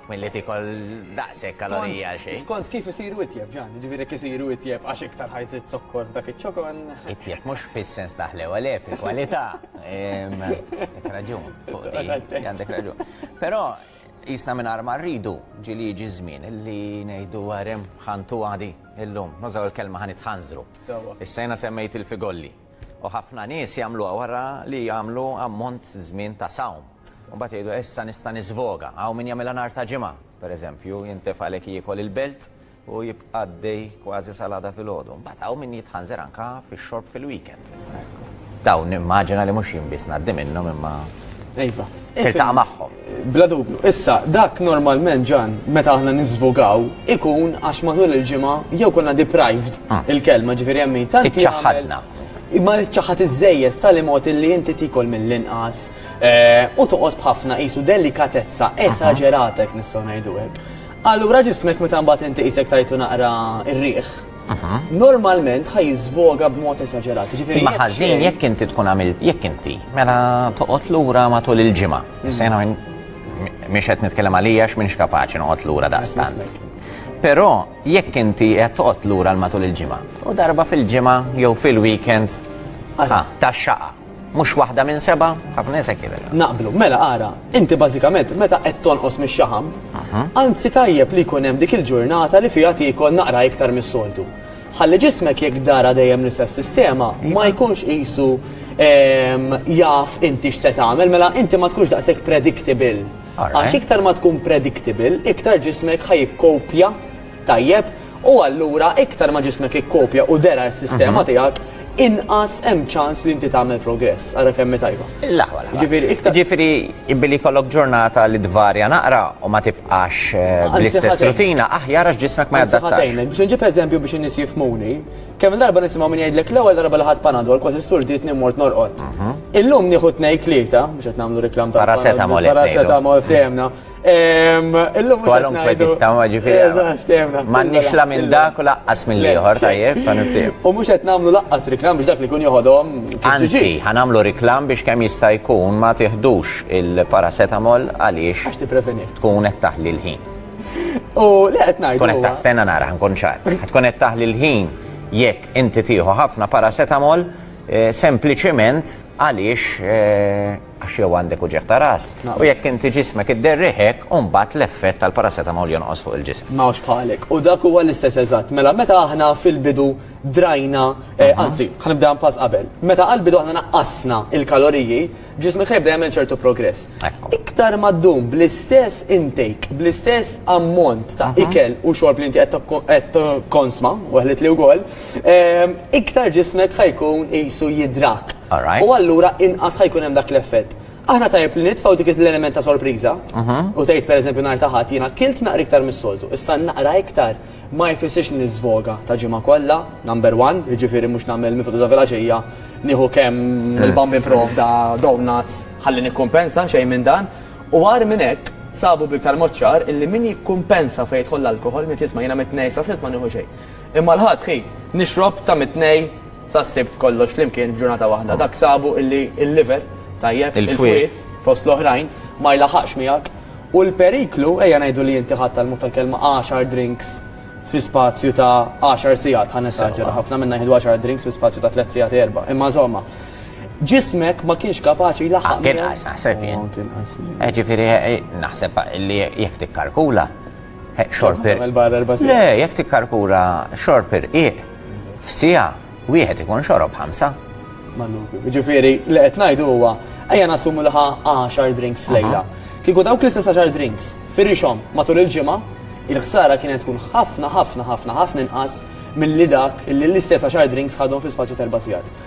Milli tikol daqsek kalorija għal xejn. Skont kif isiru itjeb ġan, ġifieri kif isiru itjeb għax iktar ħajżid zokkor f'dak iċ-ċokon. Itjeb mhux fis-sens taħlew għale fil-kwalità. Għandek raġun fuq di. Għandek raġun. Però Qisna mingħajr ma rridu, ġieli jiġi ż-żmien li ngħidu għerem ħantu għadi illum, nużaw il-kelma ħa nitħanżru. Issa jiena semmejt il-figolli. U ħafna nies jagħmluha wara li jagħmlu ammont żmien ta' sawm. U mbagħad jgħidu issa nista' niżvoga. Hawn min jagħmilha nhar ta' ġimgħa, pereżempju, jintefgħalek jiekol il-belt, u jibqa' għaddej kważi sal-għada filgħodu. Mbagħad hawn min jitħanżer anka fix-xorb fil-weekend. Dawn immaġina li mhux jien biss ngħaddi minnhom imma Iva. Tiltaqa' magħhom. Bla dubju. Issa, dak normalment ġan, meta aħna niżvogaw, ikun għax matul il-ġimgħa jew konna deprived ah. il-kelma ġifieri hemm min tant ċaħadna. Imma ċaħat iż-żejjed tal mod li inti tikol mill-inqas eh, u toqgħod b'ħafna qisu delikatezza esaġerata jekk nistgħu ngħidu hekk. Allura ġismek meta mbagħad inti qisek tajtu naqra r-riħ, normalment ħaj jiżvoga b'mod esaġerat. Ġifieri ma ħażin jekk inti tkun għamil jekk inti mela toqgħod lura matul il-ġimgħa. Mm. Sejna minn mhix qed nitkellem għalija x'minx kapaċi noqgħod lura daqstant. Però jekk inti qed toqgħod lura l matul il-ġimgħa u darba fil-ġimgħa jew fil-weekend ta' xaqa. Mhux waħda minn seba', ħafna nies hekk jibegħdu. Naqblu. Mela ara, inti bażikament meta qed tonqos mix-xaħam, anzi tajjeb li jkun hemm dik il-ġurnata li fiha tiekol naqra iktar mis-soltu. Ħalli ġismek jekk dara dejjem l-istess sistema ma jkunx qisu jaf inti x'se tagħmel, mela inti ma tkunx daqshekk predictable. Għax iktar ma tkun predictable, iktar ġismek ħa jikkopja tajjeb u allura iktar ma ġismek ikkopja u dera s-sistema tiegħek inqas hemm ċans li inti tagħmel progress. Ara kemm hi tajba. L-aħwa l-aħwa. Ġifieri iktar. Ġifieri billi jkollok ġurnata li tvarja naqra u ma tibqax eh, bl-istess rutina aħjar għax ġismek ma jaddattax. Biex nġib eżempju biex in-nies jifmuni, kemm darba nisimgħu min jgħidlek l-ewwel darba li ħadd panadol kważi sturditni mort norqod. Mhm. Illum nieħu tnejn tlieta biex qed nagħmlu reklam ta' paracetamol. Paracetamol sejemna. Illum Kwalunkwe ditta ma ġifieri. M'għandniex la minn dak u laqqas minn ieħor tajjeb ta' nifhem. U mhux qed nagħmlu laqqas riklam biex dak li jkun joħodhom. Anzi, ħanamlu riklam biex kemm jista' jkun ma tiħdux il-paracetamol għaliex. Għax tippreveni. Tkun qed taħli l-ħin. U le qed ngħid. Tkun qed taħstenna nara ħankun ċar. Tkun qed taħli l-ħin jekk inti tieħu ħafna paracetamol sempliċement għaliex għax jew għandek uġigħ ta' ras, u jekk inti ġismek idderrih hekk, u mbagħad l-effett tal-paracetamol jonqos fuq il-ġisem. Ma hawnx bħalek. U dak huwa l-istess eżatt. Mela meta aħna fil-bidu drajna, eh, anzi, ħa nibdeha pass qabel. Meta għall-bidu aħna naqqasna il-kaloriji, ġismek ħa jibda jagħmel ċertu progress. Ekku. Iktar ma ddum bl-istess intake, bl-istess ammont ta' ikel u xorb li inti qed tokko- qed konsma, weħlet li wkoll, iktar ġismek ħa jkun qisu jidhrak. U allura inqas ħa jkun hemm dak l-effett. Aħna tajjeb li nitfgħu dik l-element ta' sorpriża u tgħid pereżempju nhar ta' Ħadd jiena kilt naqra iktar mis-soltu, issa naqra iktar ma jfissirx li niżvoga ta' ġimgħa kollha, number one, jiġifieri mhux nagħmel miftuħ ta' filgħaxija nieħu kemm il-bambin provda donuts ħalli nikkumpensa, xejn minn dan. U agħar minn hekk, sabu b'iktar mod ċar illi min jikkumpensa fejn jidħol l-alkoħol min qed jisma' jiena mit-Tnejn sa' Sibt ma nieħu xejn. Imma l-Ħadd ħi nixrob ta' mit-Tnej sas-Sibt kollox flimkien f'ġurnata waħda. Dak sabu illi l-liver, tajjeb, il-fwied, fost l-oħrajn, ma jlaħaqx miegħek. U l-periklu, ejja ngħidu li inti ħadt tal-mod tal-kelma għaxar drinks fi spazju ta' għaxar sigħat, ħa nesaġera, ħafna minna jieħdu għaxar drinks fi spazju ta' tliet sigħat, erba', imma insomma, ġismek ma kienx kapaċi jlaħħaq miegħek. Kien inqas naħseb jien. Kien inqas. Ġifieri naħseb li jekk tikkalkula, Xorper. Le, jekk tikkarkura xorper iq f'sija wieħed ikun xorob ħamsa. Ġifieri, li qed ngħidu huwa ejja nassumu li ħa 10 drinks f'lejla. Kieku dawk l-istess 10 drinks firixhom matul il-ġimgħa, il-ħsara kienet tkun ħafna ħafna ħafna ħafna inqas milli dak li l-istess 10 drinks ħadhom fi spazju t'erba' sigħat.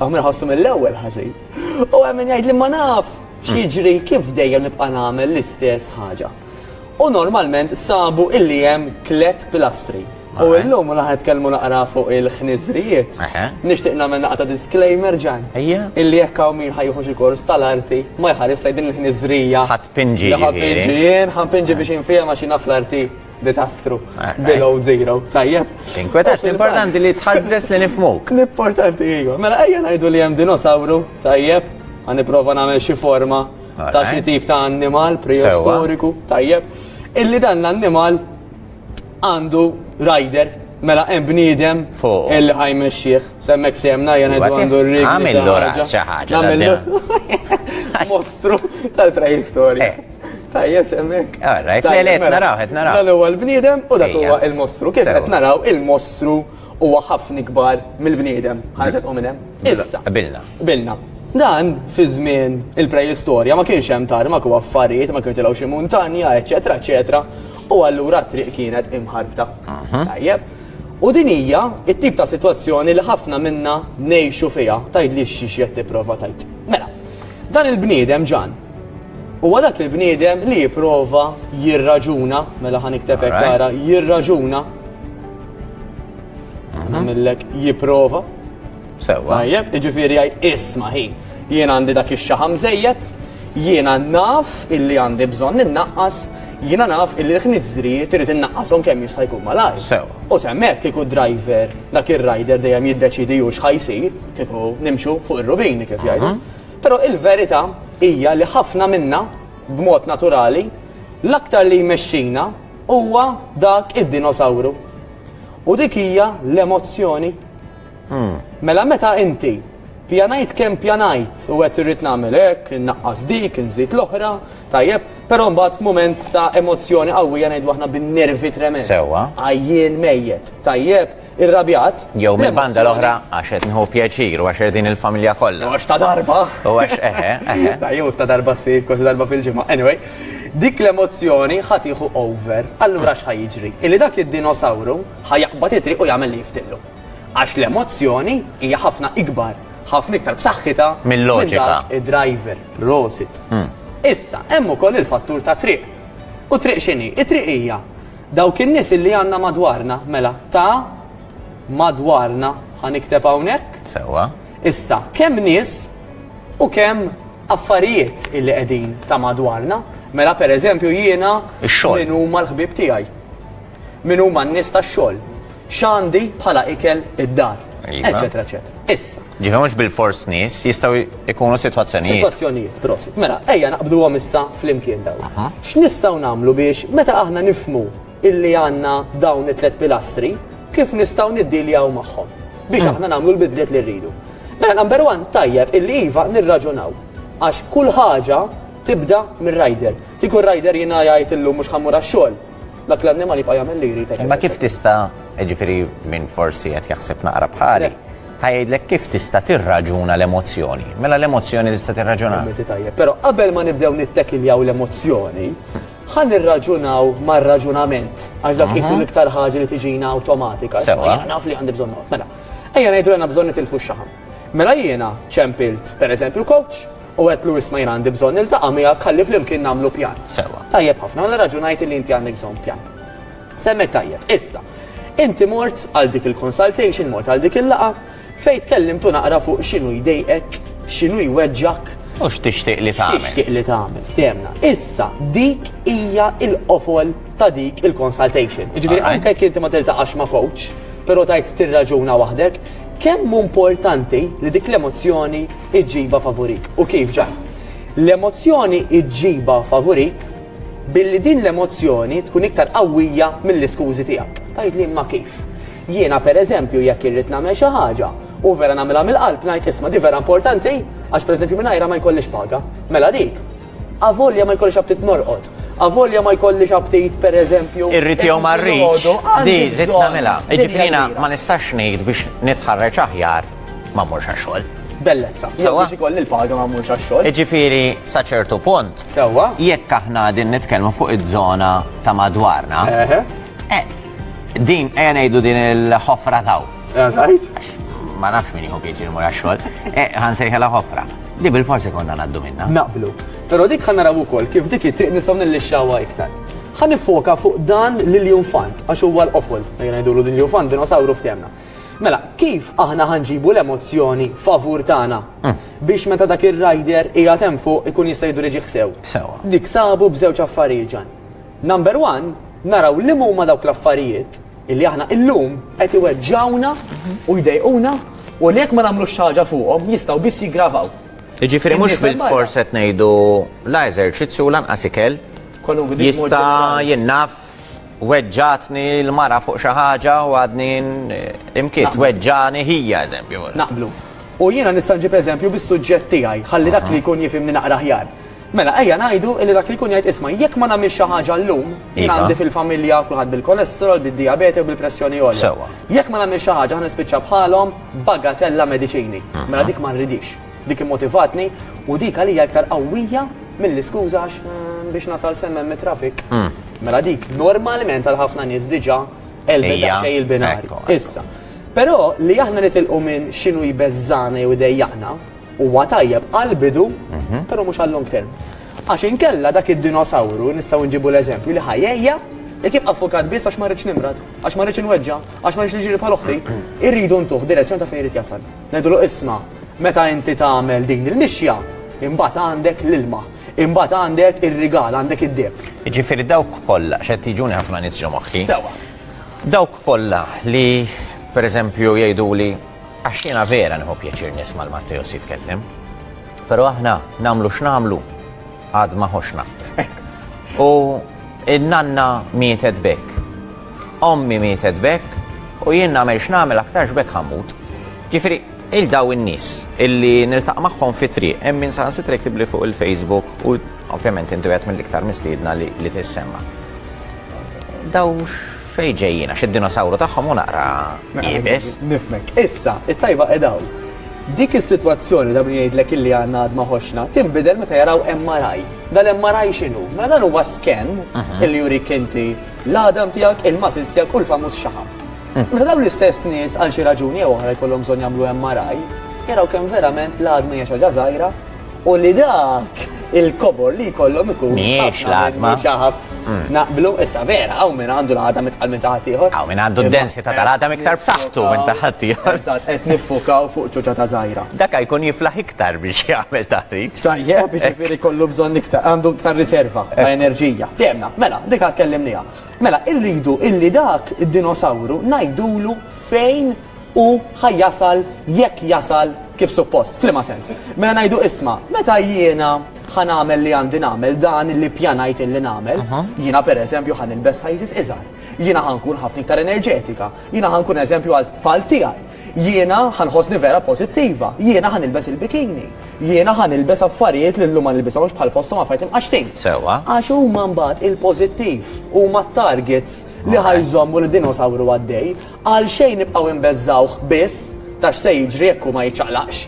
Għam nħossu mill-ewwel ħażin. U hemm min jgħid li ma naf x'jiġri kif dejjem nibqa' nagħmel l-istess ħaġa. U normalment sabu illi hemm tliet pilastri. U illum u naħed kelmu naqra fuq il-ħniżrijiet. Nixtieq nagħmel naqta disclaimer ġan. Illi jekk hawn min ħajħu xi kors tal-arti ma jħares lejn din il-ħniżrija. Ħadd pinġi. Ħadd pinġi jien, ħadd pinġi biex infihma xi naf l-arti. Disastru. Below zero. Tajjeb. Tinkwetax, l-importanti li tħazzes li nifmuk. L-importanti jigo. Mela ejja ngħidu li hemm dinosawru, tajjeb, għan niprofa nagħmel xi forma ta' xi tip ta' annimal preistoriku, tajjeb. Illi dan l-annimal għandu rider Mela hemm bniedem fuq illi ħajmexxih, semmek semna jena għandu r-rig. Għamillu ras xi ħaġa. Mostru tal-preistorja. Eh. Tajjeb semmek. Ah, rajt, le, le, mela, naraw, qed naraw. Dan huwa l-bniedem u dak huwa il-mostru. Kif qed naraw il-mostru huwa ħafna ikbar mill-bniedem. Ħaġa tqum minn hemm. Mela, Issa. Bilna. Bilna. Dan fi żmien il-preistorja ma kienx hemm tarmak u affarijiet, ma kienx tilgħu xi muntanja, eċetera, eċetera. U allura triq kienet imħarbta. Tajjeb. U din hija it-tip ta' sitwazzjoni li ħafna minna ngħixu fiha. Tgħidli xi qed tipprova tajt. Mela, dan il-bniedem ġan Huwa dak il-bniedem li jipprova jirraġuna, mela ħa nikteb hekk ara, jirraġuna. Mhm. Nagħmillek jipprova. Sewwa. Tajjeb, jiġifieri jgħid isma' ħi. Jien għandi dak ix-xaħam żejjed, jiena naf illi għandi bżonn innaqqas, jiena naf illi l-ħniżri trid innaqqashom kemm jista' jkun malajr. Sew. U semmek kieku driver dak ir-rider dejjem jiddeċidi hux ħajsir, kieku nimxu fuq ir-rubini kif jgħidu. Mhm. Però il-verità hija li ħafna minna, b'mod naturali, l-aktar li jmexxina huwa dak id-dinosawru. U dik hija l-emozzjoni. Mela meta inti, pjanajt kemm ppjanajt u għedt irrid nagħmel hekk, innaqqas dik, inżid l-oħra, tajjeb, però mbagħad f'mument ta' emozzjoni qawwija ngħidlu aħna bin-nervi tremend. Sewwa. Għajjien mejjet, tajjeb, irrabjat. Jew minn banda l-oħra għax qed nħu pjaċir u għax qed din il-familja kollha. Għax ta' darba. U għax eħe, eħe. Ta' jew ta' darba ssir kważi darba fil-ġimgħa. Anyway, dik l-emozzjoni ħadd jieħu over. Allura x'ħa jiġri? Illi dak id-dinosawru ħa jaqbad itri u jagħmel li jiftillu. Għax l-emozzjoni hija ħafna ikbar, ħafna iktar b'saħħitha mill-loġika. Id-driver, prosit. Hmm. Issa, hemm ukoll il-fattur ta' triq. U triq x'inhi? It-triq hija Dawk in-nies illi għandna madwarna, mela, ta' madwarna ħa nikteb hawnhekk. Sewwa. Issa, kemm nies u kemm affarijiet illi qegħdin ta' madwarna. Mela pereżempju jiena min huma l-ħbieb tiegħi. Min huma n-nies tax-xogħol. X'għandi bħala ikel id-dar. Eċetera, eċetera. Issa. Ġifi mhux bil-fors nies, jistgħu jkunu sitwazzjonijiet. Sitwazzjonijiet, prosit. Mela, ejja naqbduhom issa flimkien daw. X'nistgħu nagħmlu biex meta aħna nifmu illi għandna dawn it-tliet pilastri, kif nistgħu niddiljaw magħhom biex aħna nagħmlu l-bidliet li rridu. Mela number one tajjeb illi iva nirraġunaw għax kull ħaġa tibda mir-rider. Kieku r-rider jiena jgħid illum mhux ħammur għax-xogħol, dak l-annimal jibqa' jagħmel li jrid. Ma kif tista' ġifieri minn forsi qed jaħseb naqra bħali. Ħa jgħidlek kif tista' tirraġuna l-emozzjoni. Mela l-emozzjoni tista' tirraġunha. Kommenti tajjeb. Però qabel ma nibdew nittekiljaw l-emozzjoni, ħa nirraġunaw mar-raġunament. Għax dak qisu l-iktar ħaġa li tiġina awtomatika. Issa, Sewa. jiena naf li għandi bżonn noqgħod. Mela, ejja ngħidu li għandna bżonn nitilfu x-xaħam. Mela jiena ċempilt, pereżempju, coach u għedlu isma' jiena għandi bżonn niltaqa' miegħek ħalli flimkien nagħmlu pjan. Sewa. Tajjeb ħafna, mela raġunajt li inti għandek bżonn pjan. Semmejt tajjeb. Issa, inti mort għal dik il-consultation, mort għal dik il-laqgħa, fejn tkellimtu naqra fuq x'inhu jdejqek, x'inhu jweġġgħek. U x'tixtieq li tagħmel. X'tixtieq li tagħmel, ftehemna. Issa, dik hija l-qofol ta' dik il-consultation. Jiġifieri anke jekk inti ma tiltaqax ma' coach, però tgħid tirraġuna waħdek, kemm hu importanti li dik l-emozzjoni ġġibha favurik. U kif ġar? L-emozzjoni ġġibha favurik, Billi din l-emozzjoni tkun iktar qawwija mill-iskużi tiegħek. Tgħidli imma kif? Jiena per eżempju jekk irrid nagħmel xi ħaġa u vera nagħmilha mill-qalb ngħid isma' di vera importanti għax per eżempju mingħajrha ma jkollix paga. Mela dik. Avolja ma jkollix aptit norqod, avolja ma jkollix aptit per eżempju. Irrid jew ma rridx, di rrid nagħmilha. Jiġifieri jiena ma nistax ngħid biex nitħarreġ aħjar ma mmurx għax-xogħol. Bellezza. Jew biex ikolli l-paga ma mmurx għax-xogħol. Iġifieri sa ċertu punt. Sewwa. Jekk aħna din nitkellmu fuq iż-żona ta' madwarna. Eh, din ejja ngħidu din il-ħofra taw. Ma nafx min jieħu pieċi l-mura xogħol. Eh, ħan sejħela ħofra. Di bil-forsi konna naddu minna. Naqblu. Pero dik ħan naraw ukoll kif dik it-triq nistgħu nillixxawha iktar. Ħan nifoka fuq dan l-Ilju Fant, għax huwa l-qofol, ngħidulu l-Ilju Fant, dinosauru f'temna. Mela, kif aħna ħa nġibu l-emozzjoni favur tagħna biex meta dak ir-rider qiegħed hemm fuq ikun jista' jiddiriġih sew? Sewwa. Niksabu b'żewġ affarijiet, Ġann. Number one, naraw liema huma dawk l-affarijiet illi aħna illum qed iweġġgħuna u jdejquna u li jekk ma nagħmlux xi ħaġa fuqhom jistgħu biss jiggravaw. Jiġifieri mhux bilfors qed ngħidu la eżerċizzju u lanqas ikel jista' jinnaff Weġġatni l-mara fuq xi ħaġa u għadni imkiet. Weġġani ħija, eżempju. Naqblu. U jiena nista' nġib eżempju bis-suġġett tiegħi, ħalli dak li jkun jifhimni naqra aħjar. Mela, ejja ngħidu li dak li jkun jgħid isma', jekk ma nagħmilx xi ħaġa llum, jien għandi fil-familja kulħadd bil-kolesterol, bid-dijabete u bil-pressjoni għolja. Jekk ma nagħmilx xi ħaġa ħa nispiċċa bħalhom, bagatella mediċini. Mela dik ma rridhiex. Dik immotivatni u dik għalija iktar qawwija milli skuża għax mm, biex nasal semmen mit-trafik. Mm. Mela dik normalment għal ħafna nies diġà elbeda xej il-binari. Issa. Però li aħna nitilqu minn xinu jbeżżana jew idejjaqna huwa tajjeb għal bidu, mhm. però mhux għal long term. Għax inkella dak id-dinosawru nistgħu nġibu l-eżempju li ħajja Jek jibqa' fukat biss għax ma rridx nimrad, għax ma rridx inweġġa, għax ma rridx li ġiri bħal oħti, irridu ntuħ direzzjoni ta' fejn irid jasal. Ngħidulu isma', meta inti tagħmel din il-mixja, imbagħad għandek l-ilma, imbagħad għandek ir-rigal, għandek id-deheb. Jiġifieri dawk kollha, għax qed jiġuni ħafna nies ġo moħħi. Sewwa. Dawk kollha li pereżempju jgħiduli għax jiena vera nieħu pjaċir nisma' 'l Matteos jitkellem, però aħna nagħmlu x'nagħmlu, għad ma ħox naħt. U il-nanna mietet bekk. Ommi mietet bekk u jien nagħmel x'nagħmel aktarx bekk ħammut. Ġifieri il-daw in-nies illi niltaq magħhom fi triq hemm min sa sitrek tibli fuq il-Facebook u ovvjament intu qed mill-iktar mistiedna li tissemma. Daw fej ġejjina, xid-dinosawru tagħhom u naqra jibes. Nifmek. Issa, it-tajba edaw. Dik is-sitwazzjoni ta' min jgħidlek illi għandna għadma ħoxna tinbidel meta jaraw MRI. Dal-MRI x'inhu? Mela dan huwa scan illi jurik inti l-għadam tiegħek, il-muscles tiegħek u l-famuż xaħam. Meta dawn l-istess nies għal xi raġuni jew oħra jkollhom bżonn jagħmlu MRI, jaraw kemm verament l-għadma hija xi ħaġa żgħira u li dak il-kobor li jkollhom ikun. Mhijiex l-għatma. Mm. Naqblu, issa vera, għaw minn għandu l-għadam itqal minn taħat ieħor. Għaw minn għandu d-densi ta' tal-għadam iktar b'saħħtu minn taħat ieħor. Eżatt, qed nifukaw fuq ċuċa ta' żgħira. Dak jkun jiflaħ iktar biex jagħmel taħriġ. Tajjeb, jiġifieri kollu bżonn iktar, għandu iktar riserva ta' eh. enerġija. Temna, mela, dik għad kellimnija. Mela, irridu illi dak id-dinosawru ngħidulu fejn Hu ħa jasal jekk jasal kif suppost. F'liema sens? Mela ngħidu isma', meta jiena ħa nagħmel li għandi nagħmel, dan li ppjanajt illi nagħmel, jiena pereżempju ħa nilbes sizes iżgħar, jiena ħa nkun ħafna iktar enerġetika, jiena ħa nkun eżempju għat-tfal tiegħi, jiena ħa nħossni vera pożittiva, jiena ħa nilbes il-bikini, jiena ħa nilbes affarijiet li llum ma nilbishomx bħal fosthom affarijiet imqaxxtin. Sewwa. Għax huma mbagħad il-pożittiv, huma t-targets li ħa jżommu lid-dinosawru għaddej. Għalxejn nibqgħu inbeżżgħuh biss ta' x'se jiġri jekk hu ma jiċċaqlaqx?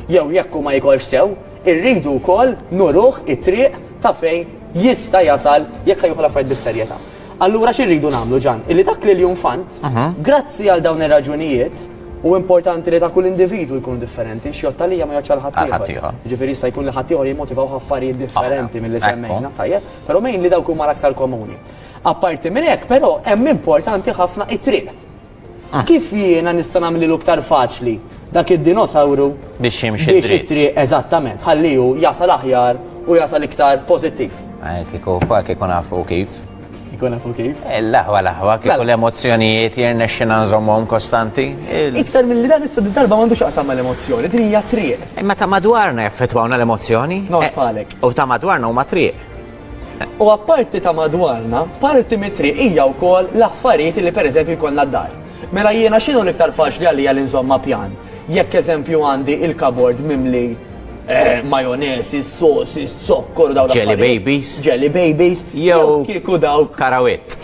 Jew jekk hu ma jikolx sew, irridu wkoll nuruh it-triq ta' fejn jista' jasal jekk ħa jieħu l-affarijiet bis-serjetà. Allura xi rridu nagħmlu Ġann? Illi dak l-iljunfant, grazzi għal dawn ir-raġunijiet, u importanti li ta' kull individwu jkunu differenti, x'jgħodd għalija ma jgħoddx għal ħaddieħor. Jiġifieri jista' jkun li ħaddieħor jimmotivawh affarijiet differenti milli semmejna, tajjeb, però mgħin li dawk huma l-aktar komuni. Apparti minn hekk, però, hemm importanti ħafna it-triq. Kif jiena nista' nagħmlilu iktar faċli dak id-dinosawru biex jimxi dritt? Biex it-triq eżattament, ħalli hu jasal aħjar u jasal iktar pożittiv. Kieku fa kieku nafu kif. Kieku nafu kif? Eh, l-aħwa l-aħwa, kieku mela. l-emozzjonijiet jirnexxina nżommhom kostanti. Iktar mill-li dan issa darba m'għandux aqsam mal-emozzjoni, din hija triq. Imma ta' madwarna jaffettwawna l-emozzjoni. Nofs eh, palek. U ta' madwarna huma triq. U apparti ta' madwarna, parti mit-triq hija wkoll l-affarijiet li pereżempju jkollna d-dar. Mela jiena x'inhu l-iktar faċli għalija li nżomm ma' pjan? Jekk eżempju għandi il-kabord mimli majonese, sauces, zokkor u dawn l-affarijiet. Jelly babies. Jelly babies. Jew kieku dawk. Karawit.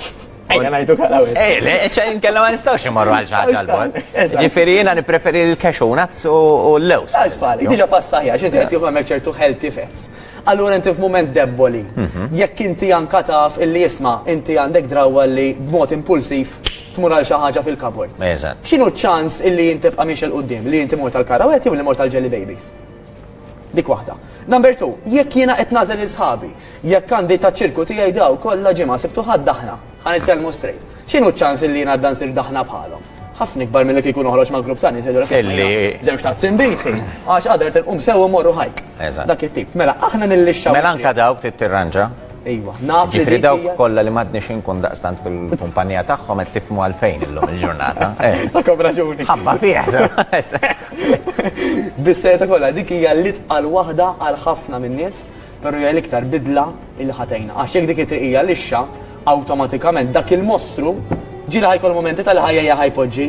Ejja ngħidu karawit. Ejja, le, ċe inkella ma nistgħux immorru għal xi ħaġa għal bogħod. Ġifieri jiena nippreferi l-cashew nuts u l-lewż. Għax f'għalik, diġà pasta aħjar, x'inti qed tieħu hemmhekk ċertu healthy fats. Allura inti f'mument debboli. Jekk inti anka taf illi isma' inti għandek drawwa li b'mod impulsiv tmur għal xi ħaġa fil-kabord. Eżatt. X'inhu ċ-ċans illi int tibqa' miexi 'l quddiem, li inti mort għal Karawet jew li mort għal Jelly Babies? Dik waħda. Number two, jekk jiena qed nagħżel lil sħabi, jekk għandi taċ-ċirku tiegħi daw kollha ġimgħa Sibt u Ħadd aħna, ħa nitkellmu straight. X'inhu ċ-ċans illi jien għadda nsir daħna bħalhom? Ħafna ikbar milli kieku noħroġ ma' grupp ta' nies jgħidulek isma' jiena żewġt tazzin bid ħin, għax għada rrid inqum sew u mmorru hike. Eżatt. Dak it-tip. Mela, aħna nillixxaw. Mela anke dawk trid tirranġa. Ejwa, naf li. Ġifieri dawk kollha li m'għadniex inkun daqstant fil-kumpanija tagħhom qed tifhmu għalfejn illum il-ġurnata. Għandkom raġuni. Ħabba fih, sew. Bis-serjetà kollha, dik hija l-itqal waħda għal ħafna min-nies. Però hija l-iktar bidla li ħa tgħinna. Għax jekk dik it-triqija lixxa, awtomatikament dak il-mostru ġieli ħa jkollu mument ta' l-ħajja ħa jpoġġi.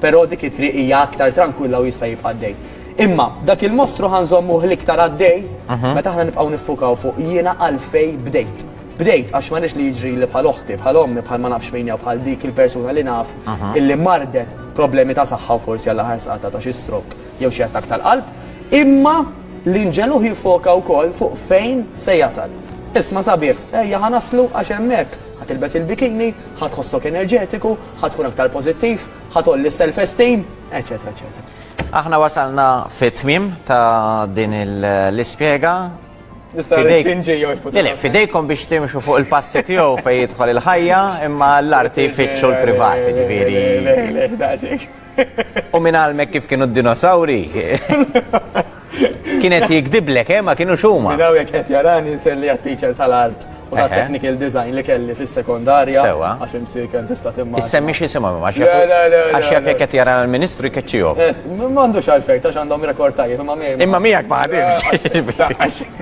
Però dik it-triq hija aktar trankwilla u jista' jibqa' għaddej. Imma dak il-mostru ħa nżommuh l-iktar għaddej meta aħna nibqgħu niffukaw fuq jiena għalfejn bdejt. Bdejt għax ma rridx li jiġrili bħal oħti, bħal ommi, bħal ma nafx min jew bħal dik il-persuna li naf illi mardet b'problemi ta' saħħa u forsi għall-aħħar saqatha ta' xi stroke. jew xi attakk tal-qalb, imma l-inġelu jiffoka wkoll fuq fejn se jasal. Isma' sabiħ, ejja ħa naslu għax hemmhekk ħa tilbes il-bikini, ħa tħossok enerġetiku, ħa tkun aktar pożittiv, ħa tgħolli s-self-esteem, eċċetera eċċetera. Aħna wasalna fit-tmiem ta' din l-ispjega. Nista' ngħid kien ġej jew Le, le, fidejkom biex timxu fuq il-passi tiegħu fejn jidħol il-ħajja, imma l-arti jfittxu l-privat, ġifieri. U minn għalmek kif kienu d-dinosawri? Kienet jikdiblek, eh, ma kienu xuma. Minn għawek qed jarani nselli għat-teacher tal-art u ta' technical design li kelli fis-sekondarja. Sewa. Għax imsir kien tista' timma. Issemmi xi simha ma Għax jaf jekk qed jara l-Ministru jkeċċihom. M'għandux għalfejn ta' għandhom rekord tajjeb imma miegħek. Imma miegħek ma ħadimx.